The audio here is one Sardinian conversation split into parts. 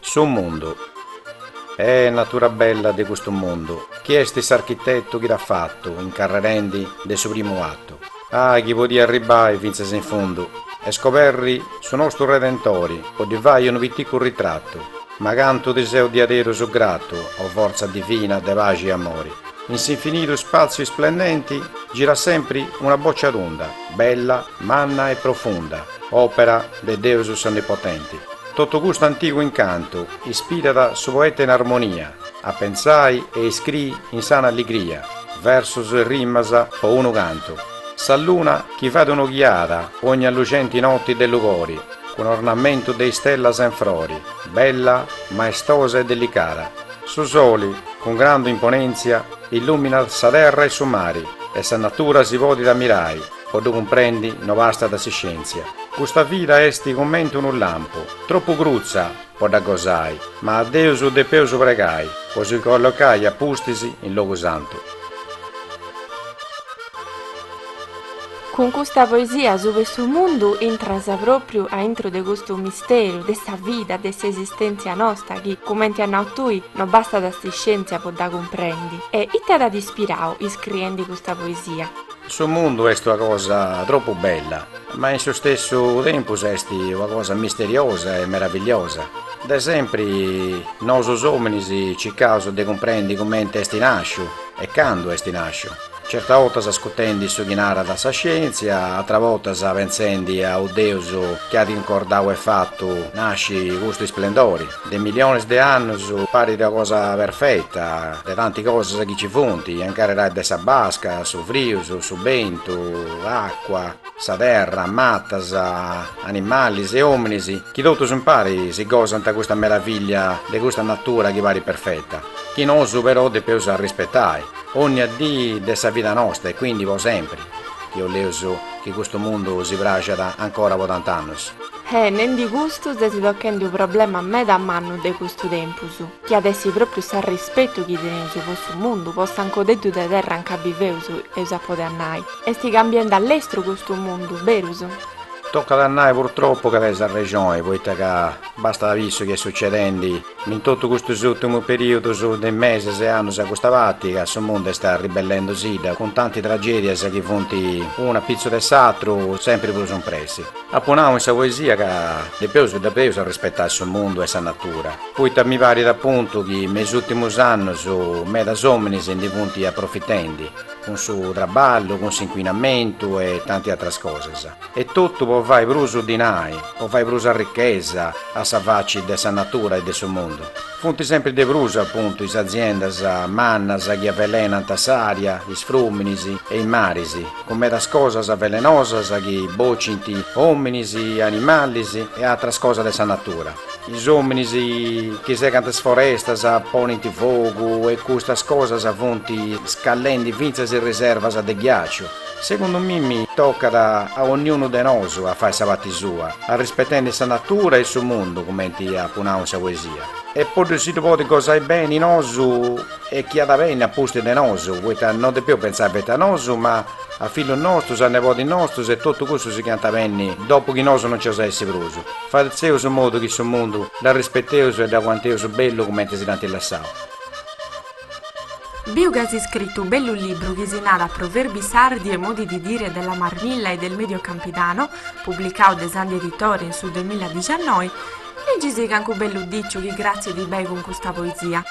Su mundu Eh natura bella de custu mundu Chi est s'architetu chi dd'at fatu Incarrerendi de su primu atu Ah chi podia arribbai fintzas in fundu E scoberri su nostu Redentori Po ddi fai unu piticu ritratu Ma cantu ti seu diaderus gratu O fortza divina de paxi e amori In s'infinidu ispàtziu isplendenti girat sempri una bòcia tunda, bella, manna e profunda, òpera de Deus s'Onnipotenti. Totu custu antigu incantu ispirat su poeta in armonia a pentzai e iscriri in sana alligria versus e rimas po unu cantu, sa luna chi fait un'oghiada ogni allucenti noti de lugori cun ornamentu de istellas in frori, bella, maestosa e delicada. Su soli, cun grandu imponentzia, illuminat sa terra e su mari, e sa natura si podit ammirai, po ddu cumprendi no bastat s'iscientzia. Custa vida esti cumenti unu lampu, troppu crutza po dda gosai, ma a Deus depeus pregai po si collocai a pustis in logu santu. Cun custa poesia asuba 'e su mundu intras pròpriu a intro de custu misteru de sa vida, de s'esistèntzia nosta chi, cumenti as nau tui, no bastat s'iscièntzia po dda cumprendi. E ita t'at ispirau iscriendi custa poesia? Su mundu est una cosa tropu bella, ma in su stessu tempus est una cosa misteriosa e meravigliosa. De sempri nosus òminis circaus de cumprendi cumenti est nàsciu e candu est nàsciu. Certas botas ascutendi su chi narat sa scientzia, atras botas pentzendi a u Deus chi at incordau e fatu nasci custu isplendori. De millionis de annus parit una cosa perfetta, de tanti cosas chi ci funt, a incarrerai de sa basca, su frius, su bentu, acua, sa terra, matas, animalis e ominis chi totus impari si gosant custa meravillia de custa natura chi parit perfetta, chi nosu però depeus arrispetai. Onnia dii de sa vida nosta e quindi po sempri, chi 'oleus chi custu mundu si praxat ancora po tant'annus. E nendi custu ses tocchendi u problema meda mannu de custu tempus, chi at essi propriu s'arrispetu chi teneus po custu mundu, po s'ancodeddu de terra anca biveus, eus a podi nai. Esti cambiendi a lestru custu mundu, berus? Toccat a nai purtroppu ca tenis arrexoni, poita ca bastat a bi su chi est succedendi In totu custus ùrtimus perìudus de mesis e annus a custa parti, ca su mundu est arribellendosìdda cun tanti tragèdias chi funt unu a pitzu de s'atru sempri prus impressi, apu nau in sa poesia ca depeus depeus arrispetai su mundu e sa natura, poita mi parit apuntu chi me is ùrtimus annus medas òminis ndi funt aprofitendi, cun su traballu, cun s'incuinamentu e tanti atras cosas. E totu po fai prus dinai, po fai prus arrichesa a sa faci de sa natura e de su mundu. Funt sempri de prus, apuntu, is aziendas mannas chi avelenant s'ària, is frùminis e is maris, cun medas cosas velenosas chi bocint òminis, animalis e atras cosas de sa natura. Is òminis chi segant is forestas, ponint fogu e custas cosas funt scallendi fintzas is riservas de ghiaciu. Segundu mimi tocat a onniunu de nosu a fai sa parti sua, arrispetendi sa natura e su mundu, cumenti apu nau in sa poesia. E po ddu si ddu podi gosai beni nosu e chi at a benni a pustis de nosu, poita no depeus pentzai feti a nosu, ma a fillus nostus, a nebodis nostus e totu cussus chi ant a benni dopu chi nosu no nc'eus a essi prus, fatzeus su modu chi su mundu dd'arrispeteus e dd'aguanteus bellu cumenti si dd'ant lassau. Biu ca as iscritu u bellu libru chi si narat Proverbi sardi e modi di dire della Marmilla e del Medio Campidano, publicau de Sandhi Editore in su duemiladiciannoi, Legisi cancu bellu diciu chi cratzit bei cun custa poesia.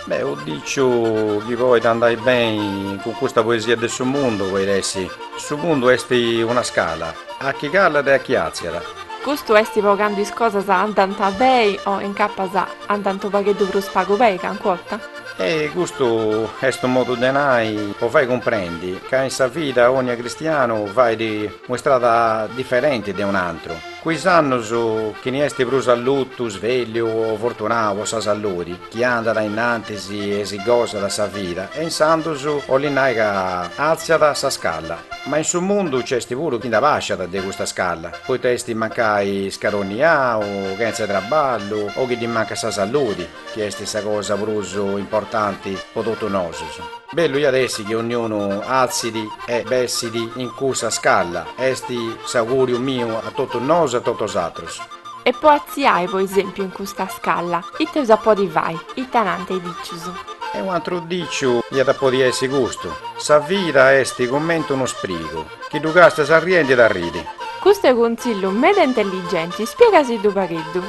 Beh, u diciu chi poit andai beni cun custa poesia de su mundu poit essi, Su mundu est una scala, a chi calat e a chi atziat. Custu est po candu is cosas andant beni o incapas a. Andant u pagheddu prus pagu bei, cancu orta. E custu est u modu de nai po fai cumprendi ca in sa vida onnia cristianu fait u istrada diferenti de un antru. Cu is annus chini esti prus allutu, svelliu o fortunau po sa saludi, chi andat a innantis e si gosat sa vida e insandus olit nai ca alziat sa scalla. Ma in su mundu c'esti puru chi nd'abasciat de custa scalla. Poita est mancai scaroniau, chentza traballu o chi ddi mancat sa saludi, chi est sa cosa prus importanti po totus nosus. Bellu iat essi chi onniunu altzit e bessit in cussa scalla, est s'auguriu miu a totus nosu e a totus atrus. E po atziai po esempiu in custa scalla, ita eus a podi fai, ita nant is dicius? E u' antru diciu iat a podi essi custu, Sa vida est cumenti unu sprigu, Chi ddu càstias arriendi dd'arridi. Custu est contzillu meda intelligenti, spiegai·si·ddu pagheddu.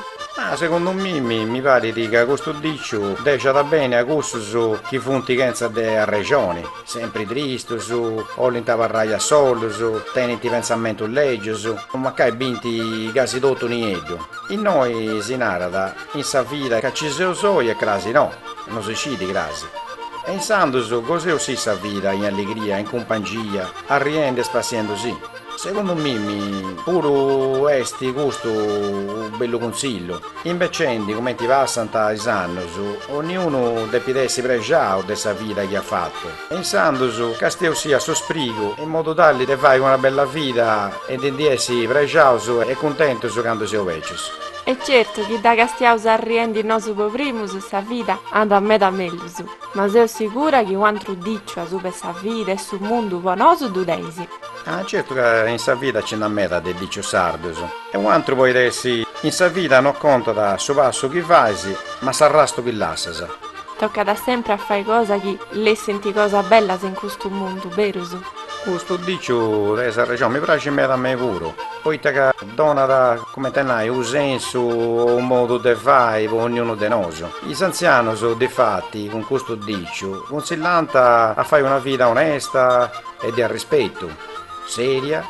Segundu mimi mi parit ca custu diciu dexat beni a cussus chi funt chentza de arrexoni, sempri tristus, olint abarrai a solus, tenint pentzamentus legius, o mancai bint casi totu nieddu. Innoi si narat in sa vida ca ci seus oi e crasi no. No si scit cras. E insandus goseus si sa vida in alligria, in cumpangia, arriendi e spassiendu si. Segundu mimi puru est custu u bellu cunsillu. Imbecendi cumenti passant is annus, onniunu depit essi prexau de sa vida chi at fatu. E insandus castieus·sì a su sprigu in modu tali de fai una bella vida e de ndi essi prexaus e cuntentus candu seus becius. E certu chi dda castiaus arriendi nosu po primus, sa vida andat meda mellus. Ma seu sigura chi u'antru diciu asuba 'e sa vida e su mundu po nosu ddu teis. Ah, certu ca in sa vida ci nd'at meda de dicius sardus. E u'antru poit essi, In sa vida no contat su passu chi fais, ma s'arrastu chi lassas. Tocat sempri a fai cosa chi lessint cosas bellas in custu mundu, berus? Custu diciu teis arrexoni, mi praxit meda a mei puru, poita ca. Donat, comente a nai, unu sensu o unu modu de fai po ognunu de nosu. Is antzianus, difati, cun custu diciu, cunsillant a fai una vida onesta e de arrispetu, seria,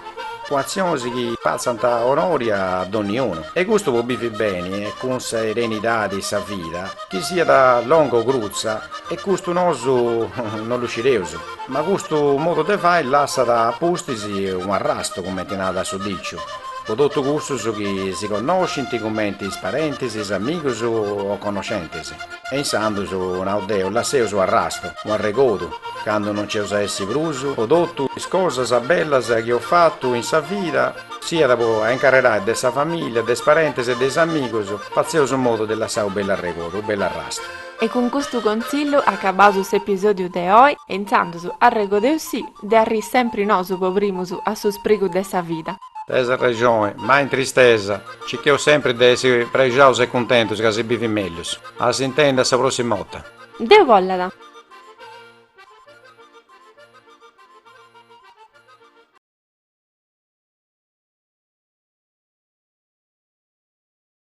cun atzionis chi fatzant onori a donniunu. E custu po bivi beni e cun serenidadi sa vida, chi siat longa o crutza, e custu nosu non ddu scireus. Ma custu modu de fai lassat a pustis unu arrastu, cumenti nau dae su dìciu, po totu cussus chi si connoscint, cumenti is parentis, is amigus o connoscentis. E insandus, nau deu, lasseus u' arrastu, u' arregodu, candu non nc'eus a essi prus, po totu is cosas bellas chi eus fatu in sa vida, siat po a incarrerai de sa familia, de is parentis e de is amigus, fatzeus in modu de lassai u' bellu arregodu, u' bellu arrastu. E cun custu contzillu acabaus s'episòdiu de oi e intzandus, arregodeus·sì, de arrii sempri nosu po primus a su sprigu de sa vida. Teis arrexoni, mai in tristesa, cicheus sempri de essi prexaus e cuntentus ca si bivit mellus. A s'intendi a sa pròssima 'orta. Deu bollat!